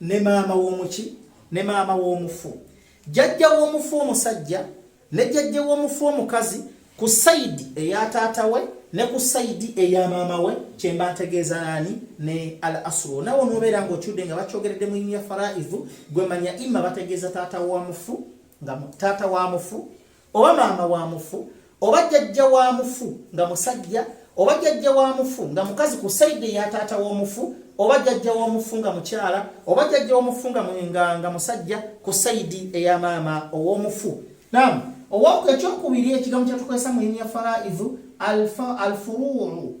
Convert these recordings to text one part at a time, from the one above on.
ne maama w'omuki ne maama w'omufu jjajja w'omufu omusajja ne jjajja w'omufu omukazi ku sayidi eya taata we ne ku sayidi eya maama we kyemba ntegeeza nani ne al asru nawe nobeera nga okyudde nga bakyogeredde mu ya faraivu gwe manya ima bategeeza taata wa mufu nga taata wa mufu oba maama wa mufu oba jjajja wa mufu nga musajja oba jjajja wa mufu nga mukazi ku saidi eya taata w'omufu oba jjajja w'omufu nga mukyala oba jjajja w'omufu nga nga musajja ku saidi eya maama ow'omufu nam owaku ekyokubiri ekigambo kyatukozesa mu linya faraidu alfuruuru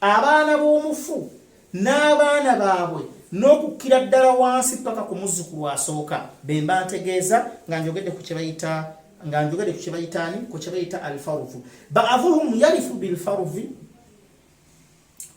abaana b'omufu n'abaana baabwe n'okukkira ddala wansi paka ku muzzukulu asooka bemba ntegeeza nga njogedde ku kyebayita nga njogedde ku kyebayita ani ku kyebayita alfarufu baavuhum yarifu bilfarufi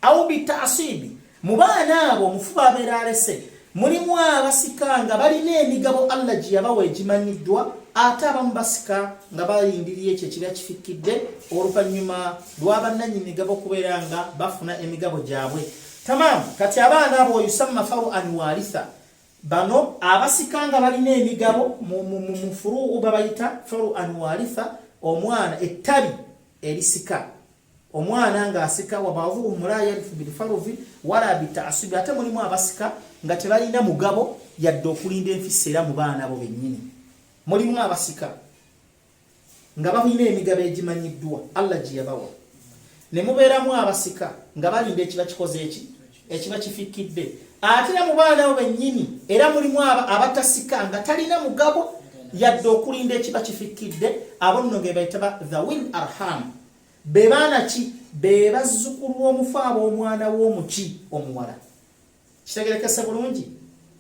au bitasibi mu baana abo omufu babeera alese Mulimu abasika nga balina emigabo Allah gye yabawa egimanyiddwa ate abamu basika nga balindirira ekyo ekiba kifikkidde oluvannyuma lwa bannanyi migabo okubeera nga bafuna emigabo gyabwe tamamu kati abaana abo yusamma faru an walitha bano abasika nga balina emigabo mufuruu babayita faru an walitha omwana ettabi erisika omwana ng'asika wabavuhum la yarifu bilfaruvi wala bitaasubi ate mulimu abasika nga tebalina mugabo yadde okulinda enfisa era mu baana bo bennyini mulimu abasika nga balina emigabo egimanyiddwa allah gye yabawa ne mubeeramu abasika nga balinda ekiba kikoze eki ekiba kifikidde ate era mu baana abo bennyini era mulimu abo abatasika nga talina mugabo yadde okulinda ekiba kifikidde abo nno ge bayita ba the win arham be baana ki be bazzukulu w'omufu ab'omwana w'omuki omuwala kitegerekese bulungi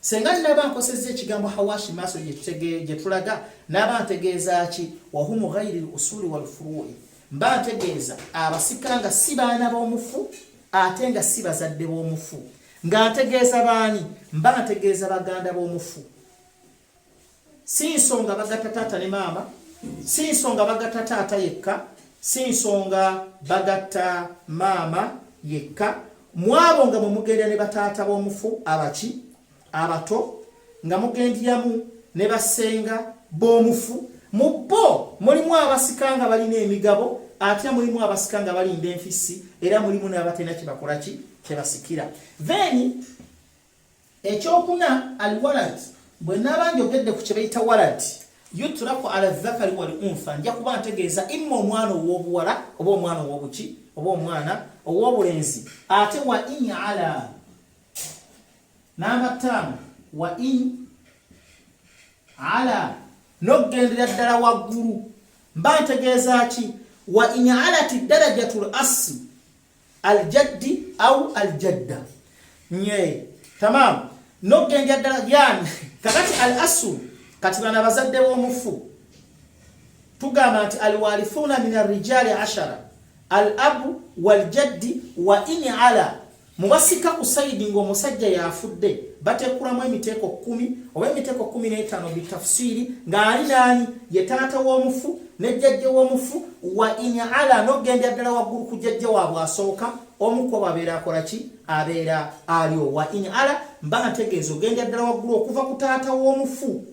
Senga naba nkosezza ekigambo hawashi maaso gye tulaga naba ntegeeza ki wahumu ghairi lusuli walfuruyi mba ntegeeza abasika nga si baana b'omufu ate nga si bazadde b'omufu nga ntegeeza baani mba ntegeeza baganda b'omufu si nsonga bagatta taata ne maama si nsonga bagatta taata yekka si nsonga bagatta maama yekka mwabo nga mwe mugenda ne bataata b'omufu abaki abato nga mugendyamu ne basenga b'omufu mu bo mulimu abasika nga balina emigabo ate mulimu abasika nga balinda enfisi era mulimu n'abatenda kyebakola ki kyebasikira then Ekyokuna al walad bwe naaba njogedde ku kye bayita walad yutraku ala dhakari wal untha nja kuba ntegeeza imma omwana ow'obuwala oba omwana ow'obuki oba omwana ow'obulenzi ate wa in ala namba ttaano wa in ala n'okugendera ddala waggulu mba ntegeeza ki wa in alati darajatul assi aljaddi au aljadda nye tamam nokugenda ddala yani kakati al asu kati bana bazadde b'omufu tugamba nti alwalithuna min arrijali ashara al abu waljaddi wa in ala mubasika ku sayidi ng'omusajja yafudde batekulamu emiteeko kumi oba emiteeko kumi n'etaano bitafusiri ng'ali naani ye taata w'omufu ne jjajja w'omufu wa in ala n'ogendera ddala waggulu ku jjajja waabwe asooka omu kubo abeera akola ki abeera aliwo wa in ala mba nga tegeeza ogendera ddala waggulu okuva ku taata w'omufu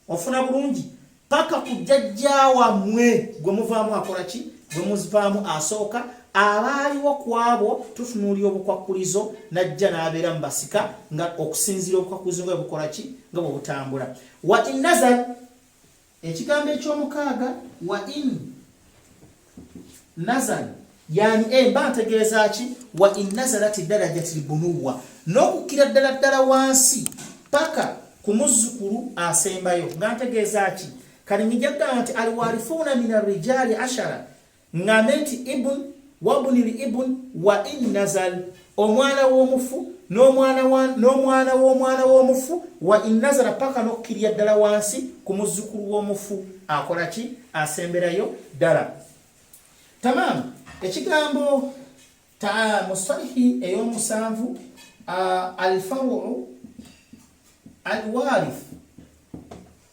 ofuna bulungi paka ku jjajja wammwe gwe muvaamu akola ki gwe muzivaamu asooka abaaliwo ku abo tutunuulira obukwakkulizo n'ajja n'abeera mu basika nga okusinziira obukwakkulizo nga bwe bukola ki nga bwe butambula wa in nazal Ekigambo eky'omukaaga wa in nazal yani emba eh, ntegeeza ki wa in nazalat darajat lbunuwa n'okukkira ddala ddala wansi paka ku muzzukulu asembayo nga ntegeeza ki kali nijagamba nti alwarifuuna min arrijaali ashara Ŋŋambe nti, Ibn, wabni l-ibn, wa in nazal, omwana w'omufu, n'omwana wa, n'omwana w'omwana w'omufu, wa in nazala, paka n'okkirira ddala wansi ku muzzukulu w'omufu, akola ki? Asemberayo ddala. Tamam, ekigambo ta mu salihi ey'omusanvu, uh, al-faru'u al-warith,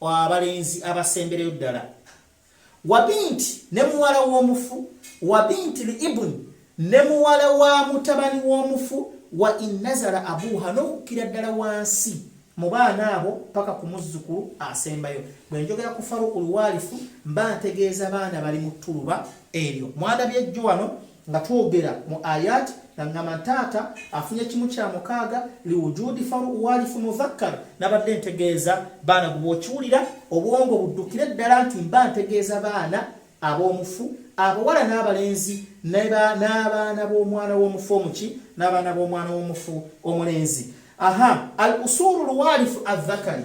abalenzi abasembereyo ddala wabinti ne muwala w'omufu wabinti li ibuni ne muwala wa mutabani w'omufu wa innazala abuuha n'okukkira ddala wansi mu baana abo paka ku muzzukulu asembayo bwe njogera ku faruku luwaalifu mba ntegeeza baana bali mu ttuluba eryo mwandabye jjo wano nga twogera mu ayat nga ngamba ntaata afunye kimu kya mukaaga liwujudi faru walifu mudhakkar nabadde ntegeeza baana gwe bwokiwulira obwongo buddukire ddala nti mba ntegeeza baana ab'omufu abawala n'abalenzi n'abaana b'omwana w'omufu omuki n'abaana b'omwana w'omufu omulenzi aha al usuru lwalifu adhakari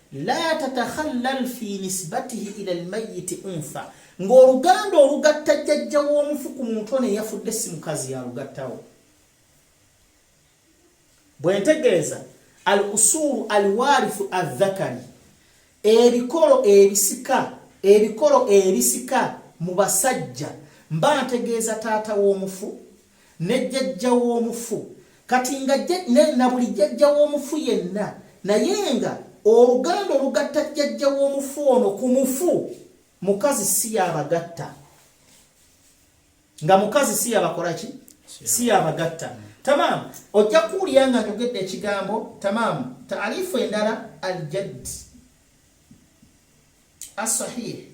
la tatakhallal fi nisbatihi ila almayyit untha ng'oluganda olugatta jjajja w'omufu ku muntu ono eyafudde si mukazi yalugattawo bwe ntegeeza al usuulu al waarifu azzakari ebikolo ebisika ebikolo ebisika mu basajja mba ntegeeza taata w'omufu ne jjajja w'omufu kati nga na buli jjajja w'omufu yenna naye nga oluganda olugatta jjajja w'omufu ono ku mufu mukazi si yabagatta nga mukazi si yabakola ki si yabagatta tamaamu ojja kuwulira nga njogedde ekigambo tamaamu taarifu endala aljad asahih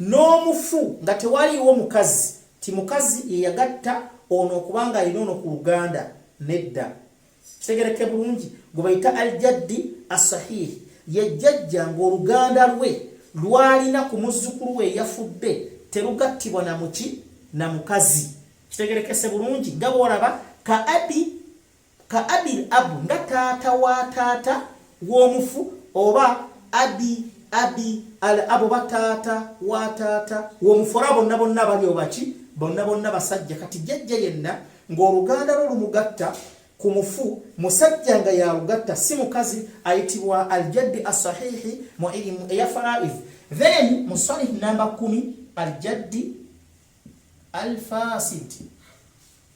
N'omufu nga tewaliiwo mukazi, nti mukazi ye yagatta ono okuba nga alina ono ku luganda, nedda. Kitegeerekke bulungi? Gwe bayita Al-Jaddi As-Sahiih, ye jjajja nga oluganda lwe lw'alina ku muzzukulu we eyafudde terugattibwa na muki? Na mukazi. Kitegeerekkese bulungi nga bw'olaba ka abi Ka abil ab nga taata wa taata w'omufu oba abi abi al ab oba taata wa taata w'omufu olaba bonna bonna bali obaki bonna bonna basajja kati jjajja yenna ng'oluganda lwo lumugatta ku mufu musajja nga yalugatta si mukazi ayitibwa aljaddi asahihi mu ilimu eya faraiz then mu salih namba kumi aljaddi alfasid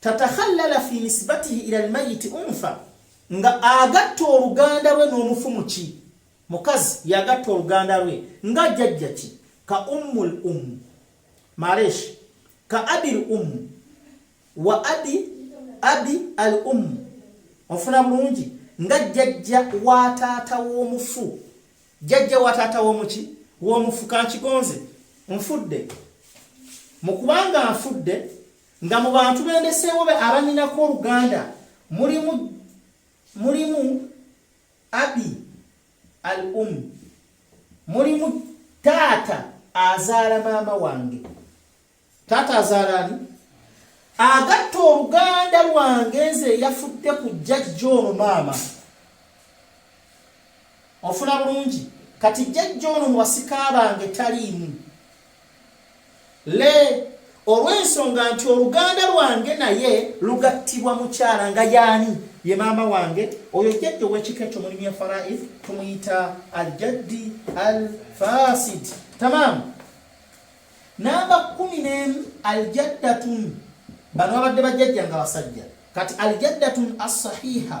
tatakhallala fi nisbatihi ila almayiti unfa nga agatta oluganda lwe n'omufu muki mukazi yagatta oluganda lwe nga jajja ki ka ummul um maresh ka abil um wa abi abi al um ofuna bulungi nga jajja wa taata w'omufu jajja wa taata w'omuki w'omufu kankigonze nfudde mu kubanga nfudde Nga mu bantu bendeseewo be abanyinako oluganda mulimu mulimu abi al um mulimu taata azaala maama wange taata azaala ani agatta oluganda lwange nze eyafudde ku jjajja ono maama ofuna bulungi kati jjajja ono mu basika bange taliimu le olw'ensonga nti oluganda lwange naye lugattibwa mukyala nga yaani ye maama wange oyo jjajja ow'ekika ekyo mulimu ya faraid tumuyita aljaddi al fasid tamaamu namba kumi n'emu aljaddatun bano babadde bajjajja nga basajja kati aljaddatun assahiha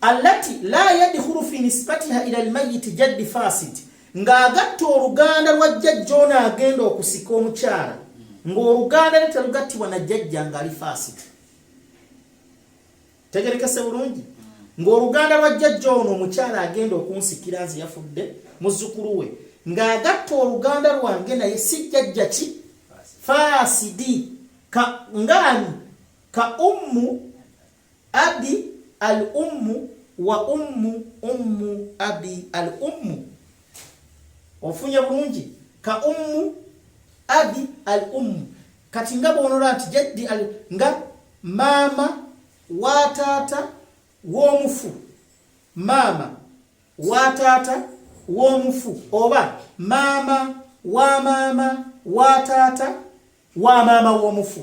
allati la yadkhulu fi nisbatiha ila almayyit jaddi fasid ng'agatta oluganda lwa jjajja ono agenda okusika omukyala ng'oluganda ne terugattibwa na jjajja ng'ali fasid tegerekese bulungi ng'oluganda lwa jjajja ono omukyala agenda okunsikira nze yafudde muzzukulu we ng'agatta oluganda lwange naye si jjajja ki faasidi ka ngaani ka ummu Abi al ummu wa ummu ummu abi al ummu ofunye bulungi ka ummu abi al ummu kati nga bwonola nti jaddi al nga maama wa taata w'omufu maama wa taata w'omufu oba maama wa maama wa taata wa maama w'omufu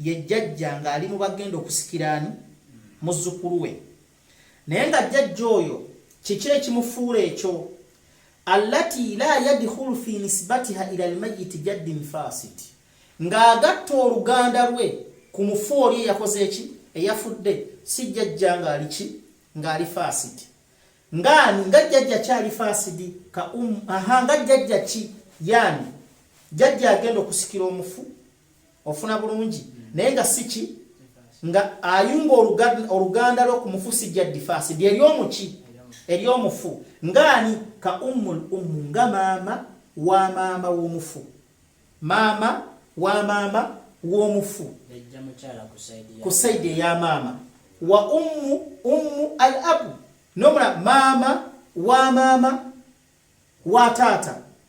ye jjajja ng'ali mu bagenda okusikira ani muzzukulu we naye nga jjajja oyo kiki ekimufuula ekyo allati la yadkhulu fi nisbatiha ila almayiti jaddin fasid ng'agatta oluganda lwe ku mufu oli eyakoze eki eyafudde si jjajja ng'ali ki ng'ali fasid ngaani nga jjajja kyali fasid ka um aha nga jjajja ki yaani jjajja agenda okusikira omufu ofuna bulungi naye nga siki nga ayunga oluganda lwo kumufusi ja difasi lye lyomuki eryomufu ngaani ka ummul ummu nga maama wa maama w'omufu maama wa maama w'omufu ku saidi eya maama wa ummu ummu al abu nomula maama wa maama wa taata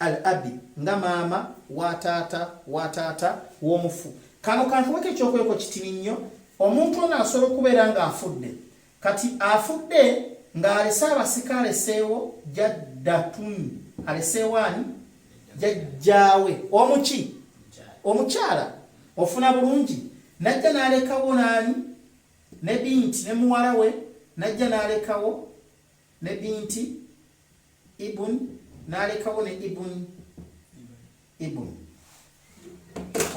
Al abi, nga maama wa taata wa taata w'omufu. Kano kankuweko ekyokuleko kitini nnyo. Omuntu ono asobola okubeera ng'afudde. Kati afudde ng'alese abasika aleseewo jaddatun. Aleseewo ani? Jajjaawe. Omuki? Omukyala. Ofuna bulungi. Najja n'alekawo n'ani? Ne binti ne muwala we. Najja n'alekawo ne binti. ibun nalekawo ne ibun ibun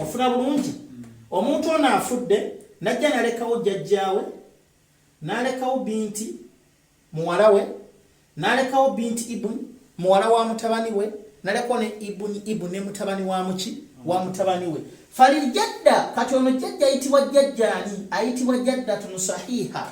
ofuna bulungi omuntu ono afudde najja nalekawo jjajjaawe nalekawo binti muwala we nalekawo binti ibun muwala wa mutabani we nalekawo ne ibun ibun ne mutabani wa muki wa mutabani we faliljadda kati ono jjajja ayitibwa jjajjaani ayitibwa jaddatun sahiha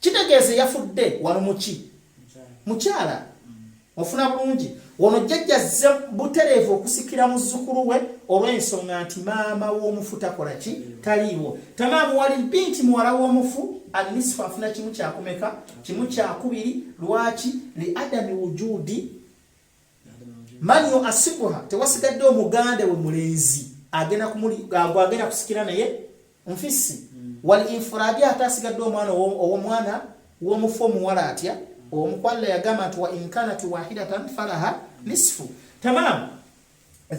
Kitegeeza eyafudde wano muki mukyala ofuna bulungi ono jjajja azze butereevu okusikira muzzukulu we olw'ensonga nti maama w'omufu takola ki taliiwo tamaamuwali mpi nti muwala w'omufu anisifu afuna kimu kyakumeka kimu kyakubiri lwaki li adami wujudi manyo asibuha tewasigadde omuganda we mulenzi agenda kumuli agwa agenda kusikira naye nfisi mm. wal infuradi ate asigadde omwana ow'omwana w'omufu omuwala atya omukwalla yagamba nti wa inkanat wahidatan falaha nisfu tamam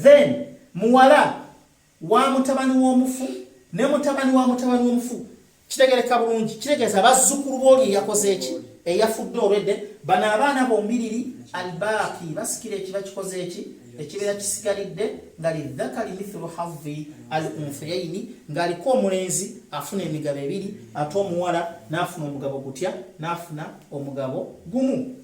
then muwala wa mutabani w'omufu ne mutabani wa mutabani w'omufu kitegereka bulungi kitegeeza bazzukulu b'oli eyakoze eki eyafudde olwedde bano abaana bombiriri albaaki basikira ekiba kikoze eki ekibeera kisigalidde nga lidhakari mithulu havi al unfiyaini ng'aliko omulenzi afuna emigabo ebiri ate omuwala n'afuna omugabo gutya n'afuna omugabo gumu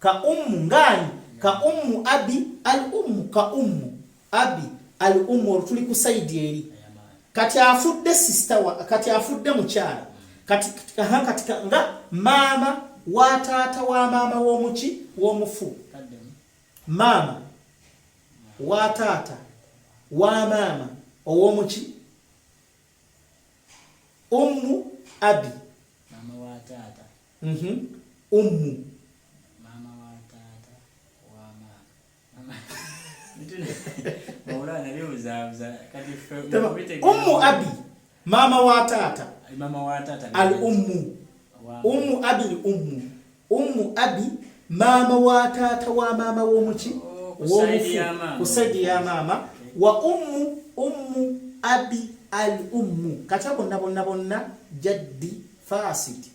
Ka ummu ng'ani? Ka ummu abi al ummu, ka ummu abi al ummu, olwo tuli ku sayidi eri. Kati afudde sisita wa, kati afudde mukyala, kati nga maama wa taata wa maama w'omuki w'omufu, maama wa taata wa maama ow'omuki ummu abi mm -hmm. ummu mama wa taata wa mama ummu abi mama wa taata mama wa taata al ummu ummu abi al ummu ummu abi mama wa taata wa mama womuki oh, womufu kusaidi ya mama wa ummu ummu abi al ummu kata bonna bonna bonna jaddi fasid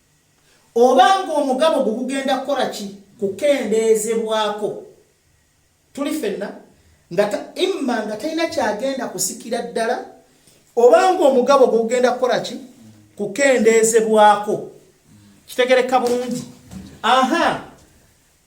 oba ng'omugabo gwo gugenda kukola ki kukendeezebwako tuli fenna nga imma nga talina kyagenda kusikira ddala oba ng'omugabo gwo gugenda kukola ki kukendeezebwako kitegereka bulungi aha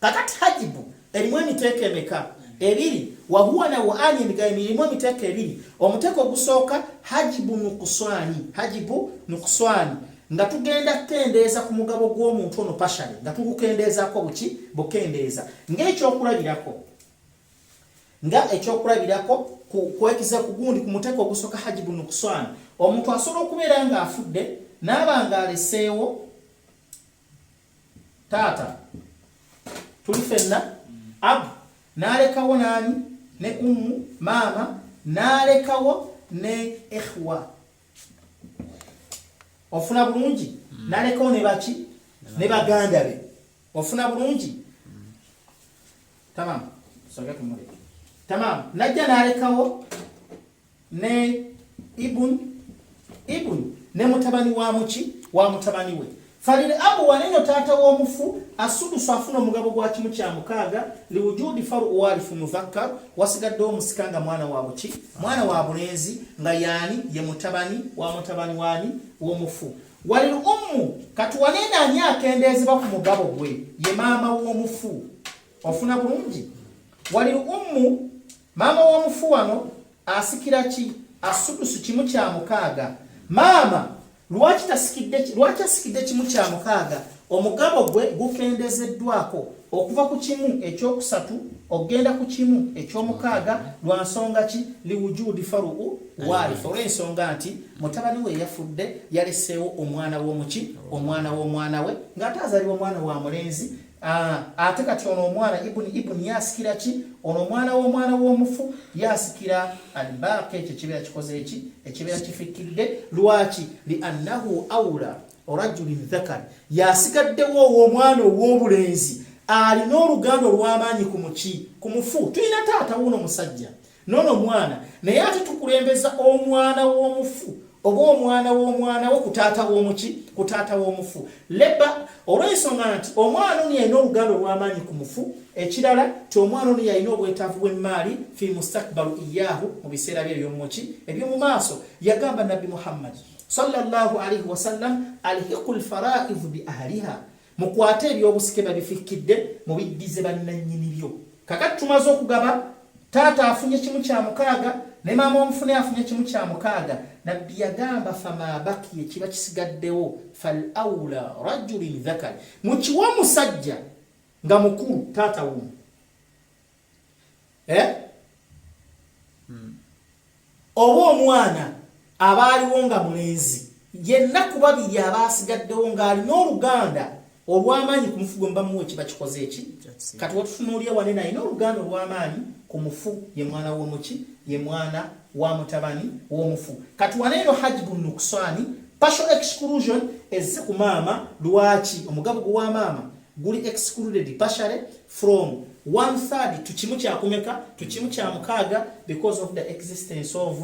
kakati hajibu erimu emiteeko emeka ebiri wahuwa na waani emigayo emirimu emiteeko ebiri omuteeko ogusooka hajibu nukuswani hajibu nukuswani nga tugenda kukendeeza ku mugabo gw'omuntu ono pashale nga tugukendeezako buki bukendeeza ngaekyokulabirako nga ekyokulabirako kwekiza ku gundi ku muteeko ogusooka hajibu nukuswani omuntu asobola okubeera ng'afudde naaba ng'aleseewo taata tuli fenna abu nalekawo nani ne ummu maama nalekawo ne ikhwa ofuna bulungi mm. nalekawo ne baki ne baganda be ofuna bulungi mm. tamam soga tumule tamam najja nalekawo ne ibun ibun ne mutabani wa muki wa mutabani we falil abu wanenyo taata w'omufu asudusu afuna omugabo gwa kimu kya mukaaga liwujudi faru walifu muzakkar wasigadde omusika nga mwana wa buki mwana wa bulenzi nga yaani ye mutabani wa mutabani waani w'omufu walil ummu kati wanene ani akendeezebwa ku mugabo gwe ye maama w'omufu ofuna bulungi wali ummu maama w'omufu wano asikira ki asudusu kimu kya mukaaga maama lwaki tasikidde lwaki asikidde kimu kya mukaaga omugabo gwe gukendezeddwako okuva ku kimu ekyokusatu okugenda ku kimu ekyomukaaga lwa nsonga ki liwujudi faruu waarifa olw'ensonga nti mutabani we yafudde yaleseewo omwana w'omuki omwana w'omwana we ng'ate azalibwa omwana wa mulenzi Ah, ate kati ono omwana ibuni ibuni yasikira ki ono omwana w'omwana w'omufu yasikira albaaqi ekyo ekibeera kikoze eki ekibeera kifikidde lwaki li annahu aula rajulin dhakari yasigaddewo ow'omwana ow'obulenzi alina oluganda olw'amaanyi ku muki ku mufu tulina taata wuuno musajja nono omwana naye ate tukulembeza omwana w'omufu oba omwana w'omwana wo ku taata w'omuki ku taata w'omufu leba olw'ensonga nti omwana ono yalina oluganda olw'amaanyi ku mufu ekirala ti omwana ono yalina obwetaavu bw'emmaali fi mustakbalu iyaahu mu biseera bye eby'omuki eby'omu maaso yagamba nabbi muhammadi sallallahu alaihi wasallam alhiqu lfaraidu bi ahliha Mukwate ebyobusike babifikkidde mubiddize bannannyini byo. Kakati tumaze okugaba, taata afunye kimu kya mukaaga ne maama omufune afunye kimu kya mukaaga. Nabbi yagamba famabaki ekiba kisigaddewo fal aula rajulin dhakari, mukiwe omusajja nga mukulu taata wumu. eh? hmm. oba omwana abaaliwo nga mulenzi yenna ku babiri abaasigaddewo ng'alina oluganda olw'amaanyi ku mufu gwe mubamuwa ekiba kikoze eki kati watufunuulya wane nayina oluganda olw'amaanyi ku mufu ye mwana w'omuki ye mwana wa mutabani w'omufu kati wane eno hajibu nukuswani partial exclusion ezze ku maama lwaki omugabo gwe wa maama guli excluded partially from one third to kimu kya kumeka to kimu kya mukaaga because of the existence of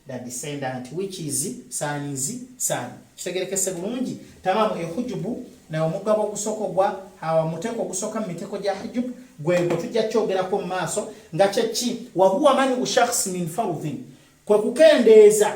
the descendant which is son is son kitegerekese bulungi tamamu ehujubu na omugabo ogusoko gwa hawa muteko ogusoka mu miteko gya hijub gwego tujja kyogerako mu maaso nga kyeki wahuwa mani ushakhs min fardhin kwe kukendeeza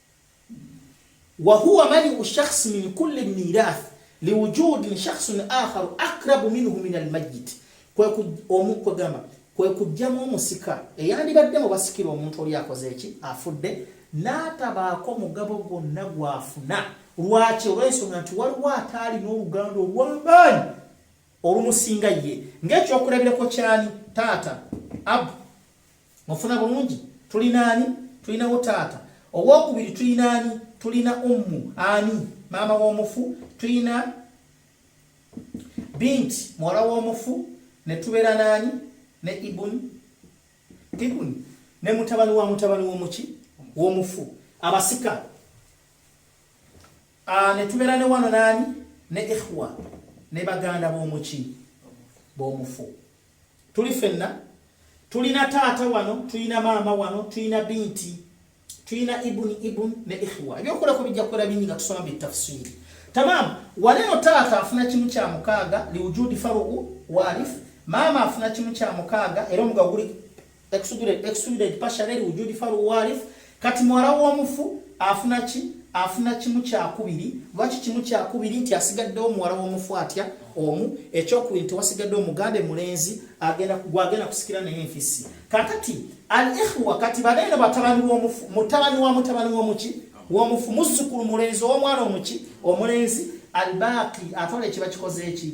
wahuwa maniu shakhsi min kulli mirath liwujudin shakhsun akharu akrabu minhu min almayiti kwekugamba kwe kujjamu omusika eyandibadde mu basikira omuntu oli akoze eki afudde n'atabaako mugabo gwonna gwafuna lwaki olw'ensonga nti waliwo ataali n'oluganda olw'amaanyi olumusinga ye ng'ekyokulabirako kyani taata abu mufuna bulungi tulina ani tulinawo taata owokubiri tulina ani tulina ummu ani maama w'omufu tulina binti muwala w'omufu ne tubeera n'ani ne ibuni ibuni ne mutabani wa mutabani w'omuki w'omufu abasika ah, ne tubeera ne wano n'ani ne ihwa ne baganda b'omuki b'omufu tuli fenna tulina taata wano tulina maama wano tulina binti tulina ibuni ibun ne ikhwa ebyokulako bijja kukola bingi nga tusoma bitafsiri tamam waleno taata afuna kimu kya mukaaga liwujudi faruku walif maama afuna kimu kya mukaaga era omugaga guli exudent pashareri wujudi faru warif kati muwala w'omufu afuna ki afuna kimu kyakubiri lwaki kimu kyakubiri nti asigaddewo muwala w'omufu atya omu ekyokubiri nti wasigadde omuganda emulenzi gwagenda kusikira naye enfisi kakati al ihwa kati baneeno batabani b'omufu mutabani wa mutabani w'omuki w'omufu muzzukulu mulenzi ow'omwana omuki omulenzi albaaqi atwala ekiba kikoze eki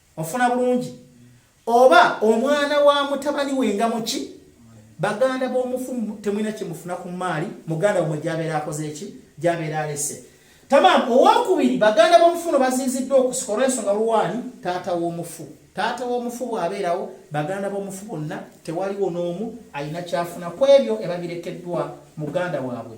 ofuna bulungi oba omwana wa mutabani we nga muki baganda b'omufu temulina kyemufuna ku maali muganda wamwe gyabeera akoze eki gyabeera alese tamam owokubiri baganda b'omufu no baziiziddwa okusika olwensonga luwaani taata w'omufu taata w'omufu bw'abeerawo baganda b'omufu bonna tewaliwo n'omu alina kyafuna ku ebyo ebabirekeddwa muganda waabwe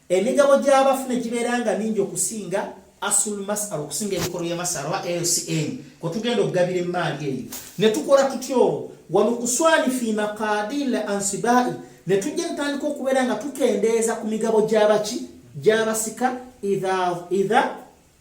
Emigabo gy'abafu ne gibeera nga mingi okusinga asul masar okusinga emikolo ya masar oba lcm kwe tugenda okugabira emmaali eyo ne tukola tutya olwo walukuswani fi maqadil ansibai ne tujja tutandika okubeera nga tukendeeza ku migabo gy'abaki gy'abasika idha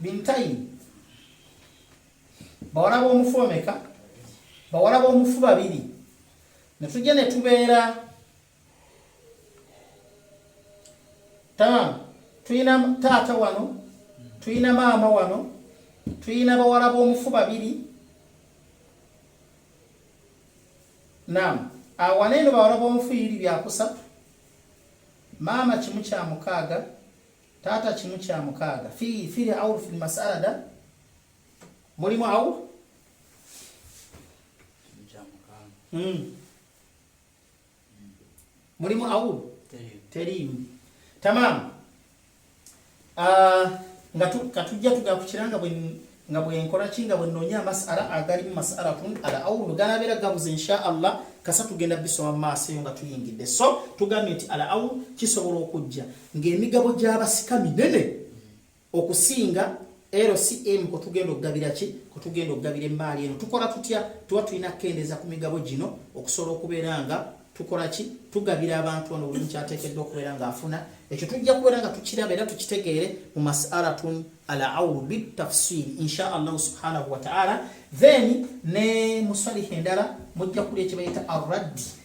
bintayi bawala b'omufu bameka bawala b'omufu babiri ne tujja ne tubeera tama tulina taata wano tulina maama wano tulina bawala b'omufu babiri nam awaneeno bawala b'omufu yiri byakusatu maama kimu kya mukaaga taata kimu kya mukaaga fi fili aur fil masalada mulimu aur hmm. mulimu aur terimu tamamu Ah, nga katujja tugakukira nga bwe nga bwenkola ki nga bwenoonya amasala agalimu masala kun ala awulu ganabeera gabuze insha allah kasa tugenda bisoma maaso eyo nga tuyingidde so tugambye nti ala awulu kisobola okujja ng'emigabo gy'abasika minene okusinga LCM kwe tugenda okugabira ki kwe tugenda okugabira emmaali eno tukola tutya tuba tulina kukendeeza ku migabo gino okusobola okubeera nga tukola ki tugabira abantu ono buli mukyateekeddwa okubeera ng'afuna ekyo tujja kubeera nga tukiraba era tukitegeere mu masalatun al aulu bitafsiri insha allahu subhanahu wataala then ne musaliha endala mujja kuli ekibayita arraddi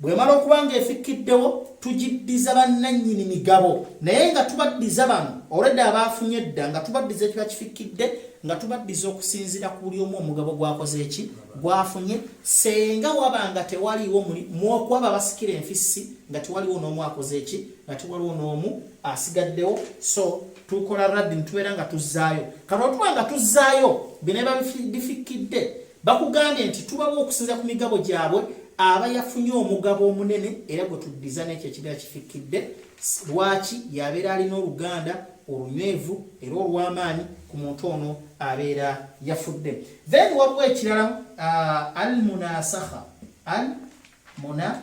Bw'emala okuba ng'efikkiddewo tugiddiza bannannyini migabo naye nga tubaddiza bano olwedda abaafunye edda nga tubaddiza ekiba kifikkidde nga tubaddiza okusinziira ku buli omu omugabo gwakoze eki gwafunye senga waba nga tewaliwo muokuwaba basikira enfissi nga tewaliwo n'omu akoze eki nga tewaliwo n'omu asigaddewo so tukola raddi nitubeera nga tuzzaayo kati otuba nga tuzzaayo bineba bifikkidde Bakugambye nti tubawa okusinza ku migabo gyabwe aba yafunye omugabo omunene era gwe tuddiza n'ekyo ekibira kifikkidde lwaki yabeera alina oluganda olunywevu era olw'amaanyi ku muntu ono abeera yafudde then waliwo ekirala uh, al munasakha al muna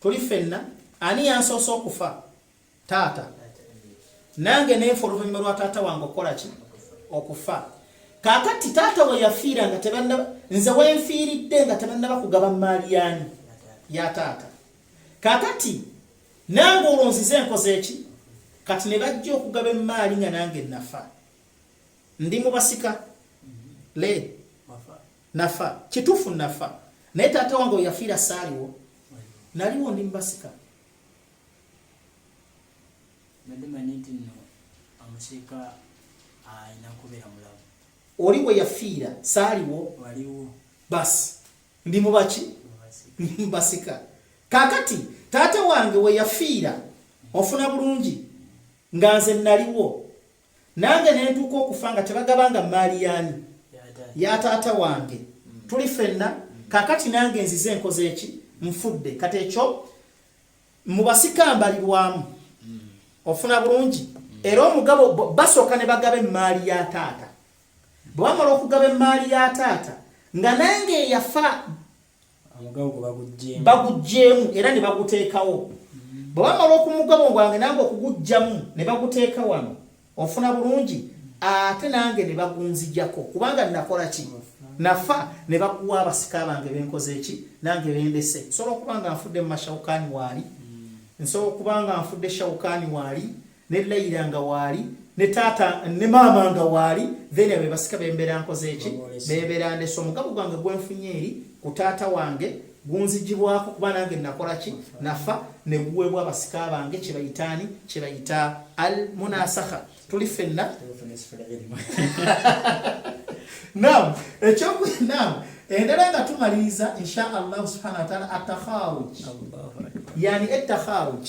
tuli fenna ani yansoose okufa taata nange nenfa oluvannyuma lwa taata wange okukola ki okufa kakati taata we yafiira nga tebannaba nze wenfiiridde nga tebannaba kugaba maali yani ya taata kakati nange olwo nzize enkoze eki kati ne bajja okugaba emaali nga nange nafa ndi mubasika le Nafa. Kitufu nafa. Naye tata wange oyafira saliwo. Naliwo ndi mbasika. Nade maniti no amusika aina kubera mulabu. Oli we yafira saliwo. Waliwo. Bas. Ndi mubaki? Mbasika. Kakati tata wange we yafira ofuna bulungi nga nze naliwo. nange ne ntuuka okufa nga tebagabanga mmaali yaani ya taata wange mm. tuli fenna mm. kakati nange nzize enkoze eki nfudde kati ekyo mu basika mbalirwamu mm. ofuna bulungi era omugabo basooka ne bagaba emmaali ya taata bwe bamala okugaba emmaali ya taata nga nange eyafa bagugyemu era ne baguteekawo mm. bwe bamala okumugabo gwange nange okuguggyamu ne baguteeka wano ofuna bulungi ate nange ne bagunzijako kubanga nakola ki nafa ne bakuwa abasika bange benkoze eki nange bendese nsobola okuba nga nfudde mu mashawukaani waali mm. nsobola okuba nga nfudde shawukaani waali ne layira nga waali ne taata ne maama nga waali then abe basika bembeera nkoze eki bebeera ndeso omukago gwange gwenfunye eri ku taata wange gunzijibwako kuba nange nakola ki nafa ne guweebwa abasika bange kye bayitaani kye bayita al munasakha tuli fenna nam ekyoku nam endala nga tumaliriza insha allahu subhanahu wataala atakharuj yani etakharuj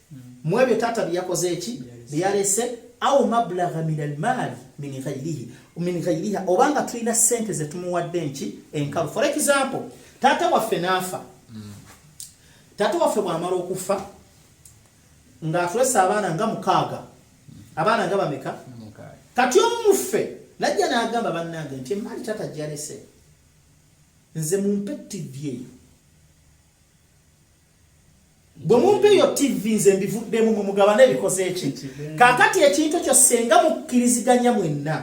mu ebyo taata bye yakoze eki bye yalese au mablagha min almali min ghairihi min ghairiha oba nga tulina sente ze tumuwadde enki enkalu for example taata waffe n'afa taata waffe bw'amala okufa ng'atulese abaana nga mukaaga abaana nga bameka kati omuffe najja n'agamba bannange nti emaali taata gyalese nze mumpe ttivi eyo bwe mumpa eyo tv nze mbivuddemu mwe mugabane ebikoze eki kaakati ekintu ekyo senga mukkiriziganya mwenna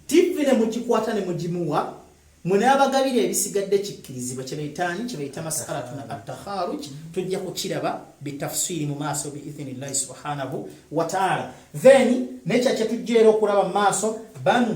tv ne mugikwata ne mugimuwa mwe n'abagabira ebisigadde kikkirizibwa kye bayitaanyi kye bayita masakalatu na attakharuj tujja kukiraba bitafsiri mu maaso biithini llahi subhanahu wataala then nekya kye tujja era okulaba mu maaso banu